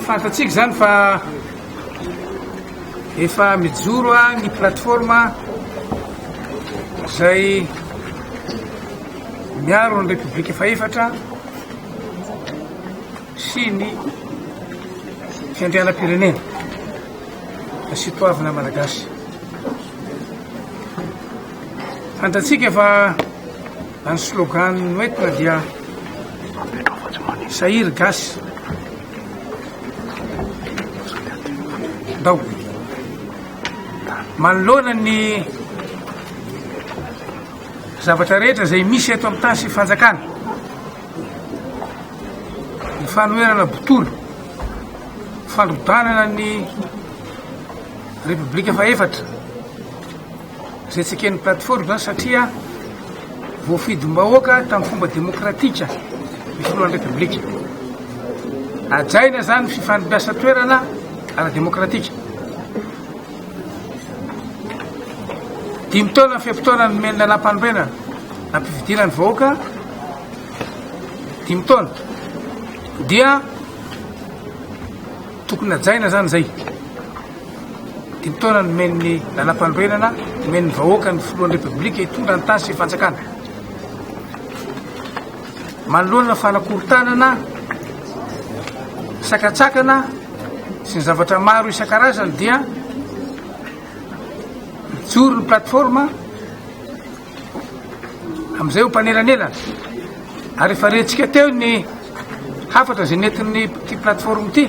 Fantatsika izany fa efa mijoro ny plateforme izay miaro ny repoblika fahefatra sy ny fiandrianam-pirenena da sy toavina malagasy fantatsika fa Na ny slogan noentina dia Sahiry gasy Ndao Manoloana ny zavatra rehetra izay misy eto amin'ny tany sy fanjakana ny fanoherana botolo fandrodanana ny repoblika faefatra Izay tsy eken'ny plateforme izany satria voafidim-bahoaka tamin'ny fomba demokratika ny filohan'ny Repoblika. Hajaina izany ny fifandrabiasa toerana ara-demokratika. Dimy taona ny fe-potoana nomen'ny lalam-panorenana nampifidiana ny vahoaka dimy taona dia Tokony hajaina zany zay. Dimy taona nomen'ny lalampanorenana, nomen'ny vahoaka ny filohan'ny Repoblika hitondra ny tany sy fanjakana. Manoloana fanakorontanana, sakatsakana sy ny zavatra maro isan-karazany dia mijoro ny plateforme Amin'izay ho mpanelanelana, ary efa rentsika teo ny hafatra izay nentin'ny ity plateforme ity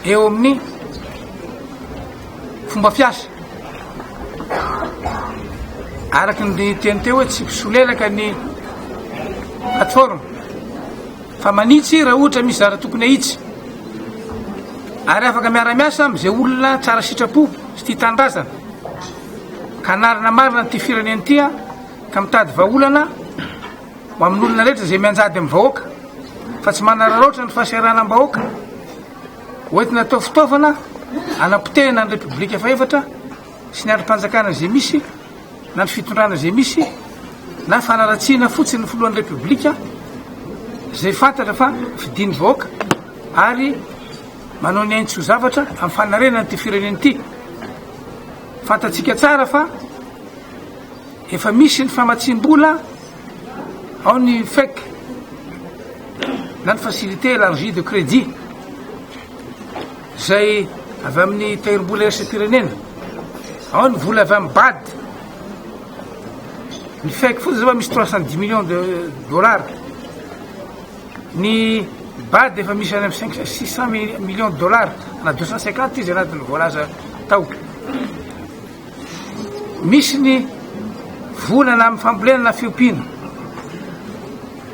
eo amin'ny fomba fiasa. Araka ny teny teo hoe tsy mpisolelaka ny plateforme fa manitsy raha ohatra misy zara tokony ahitsy ary afaka miara-miasa amin'izay olona tsara sitrapo sy tia tanindrazana. Hanarina marina an'ity firenena ity aho ka mitady vahaolana ho amin'olona rehetra izay mianjady amin'ny vahoaka fa tsy manararaotra ny fahasahiranam-bahoaka hoentina atao fitaovana anapotehana ny repoblika fahefatra sy ny andrim-panjakana izay misy na ny fitondrana izay misy na fanaratsiana fotsiny ny filohan'ny repoblika izay fantatra fa fidin'ny vahoaka ary Manao ny ainy tsy ho zavatra amin'ny fanarenana ity firenena ity. Fantatsika tsara fa efa misy ny famatsiam-bola ao ny FEC na ny facilité élargie de crédit izay avy amin'ny tahirim-bola iraisam-pirenena. Ao ny vola avy amin'ny BAD. Ny FEC fotsiny izao misy 310 millions de dollars. Ny bad efa misy any amin'ny cinq cent, six cent millions de dollars na deux cent cinquante izy anatin'ny voalaza tao. Misy ny volana amin'ny fambolena na fiompiana.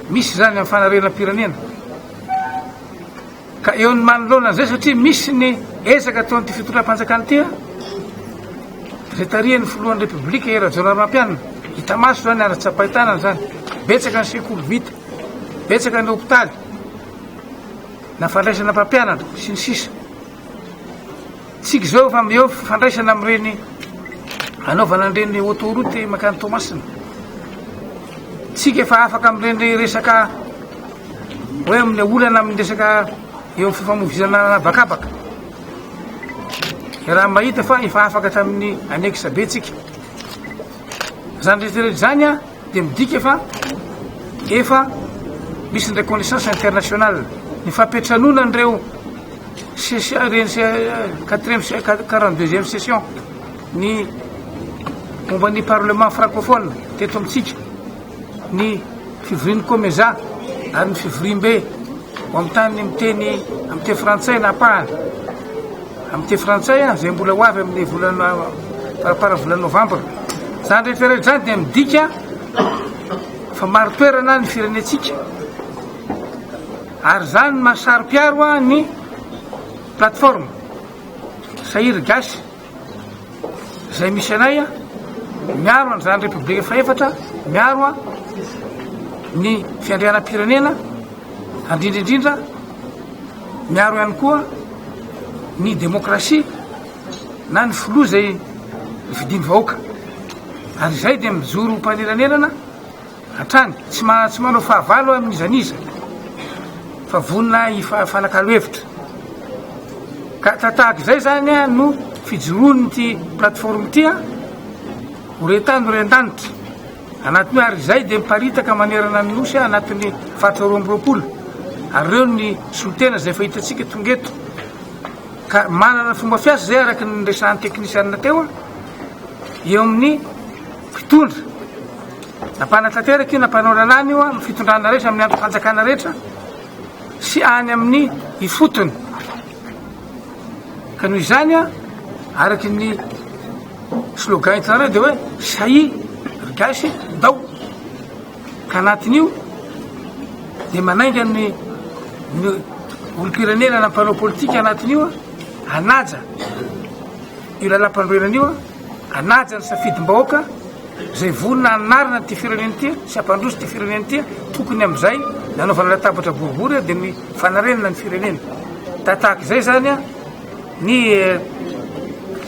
Misy izany amin'ny fanarenam-pirenena. Ka eo ny manoloana an'izay satria misy ny ezaka ataon'ity fitondram-panjakana ity an, izay tarihan'ny filohan'ny Repoblika i Rajaonarimampianina, hita maso izany ary tsapain-tanana izany, betsaka ny sekoly vita, betsaka ny hopitaly, na fandraisana mpampianatra sy ny sisa. Tsika izao efa eo fifandraisana amin'ireny hanaovana an'ireny autoroute mankany Toamasina. Tsika efa afaka amin'ireny resaka hoe amin'ny olana amin'ny resaka eo amin'ny fifamoivoizana an'habakabaka. Raha mahita fa efa afaka hatramin'ny annexe be tsika. Izany rehetra rehetra izany an. dia midika fa efa misy ny reconnaissance internationale, ny fampiantranoana an'ireo session ireny se- quatrième se- quat- 42e session ny momba ny parlement francophone teto amintsika ny fivorian'ny komeza ary ny fivoriambe ho amin'ny tany miteny amin'ny teny frantsay na apahana Amin'ny teny frantsay, izay mbola ho avy amin'ny volana faramparan'ny volana novambra. Izany rehetrarehetra izany dia midika fa marin-toerana ny firenentsika, ary izany no maha saro-piaro ny plateforme Sahir Gasy izay misy anay miaro an'izany Repoblika fahefatra, miaro ny fiandrianam-pirenena, handrindra indrindra Miaro ihany koa ny demokrasia na ny filoha izay nofidin'ny vahoaka. Ary izay dia mijoro ho mpanelanelana hatrany. Tsy ma- tsy manao fahavalo amin'iza n'iza fa vonona hifanakalo hevitra. Ka ta- tahaka izay izany ah, no fijoroan'ity plateforme ity ah, ho rentany ho rentanitra. Anatiny ary izay dia miparitaka manerana ny Nosy anatiny faritra roa amby roapolo ary ireo ny solontena izay efa hitantsika tonga eto ka manana fomba fiasa izay araka ny resahan'ny teknisianina teo a eo amin'ny fitondra na mpanatanteraka io na mpanao lalàna io a amin'ny fitondrana rehetra amin'ny andro fanjakana rehetra sy any amin'ny ifotony Ka noho izany, araka ny slogan itanareo dia hoe sahia ry gasy ndao. Ka anatin'io dia manainga ny olom-pirenena na mpanao politika anatin'io hanaja io lalam-panorenana io. Hanaja ny safidim-bahoaka izay vonona hanarina an'ity firenena ity sy hampandroso ity firenena ity, tokony amin'izay nanaovana latabatra boribory dia ny fanarenana ny firenena. Da tahaka izay izany ny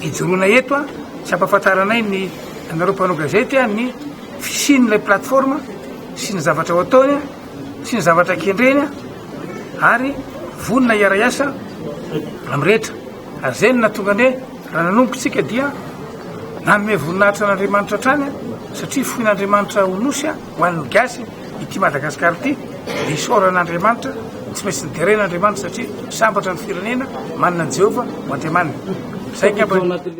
ijoroana eto sy hampafantaranay ny anareo mpanao gazety ny fisian'ilay plateforme sy ny zavatra ho ataony sy ny zavatra kendreny ary vonona hiara-hiasa amin'ny rehetra. Ary izay no nahatonga anay, raha nanomboka isika dia nanome voninahitra an'Andriamanitra hatrany, satria foin'Andriamanitra ho Nosy ho an'ny Gasy ity Madagascar ity, dia isaorana an'Andriamanitra, tsy maintsy niterena Andriamanitra satria sambatra ny firenena manana an'i Jehovah ho Andriamaniny. Izay angamba.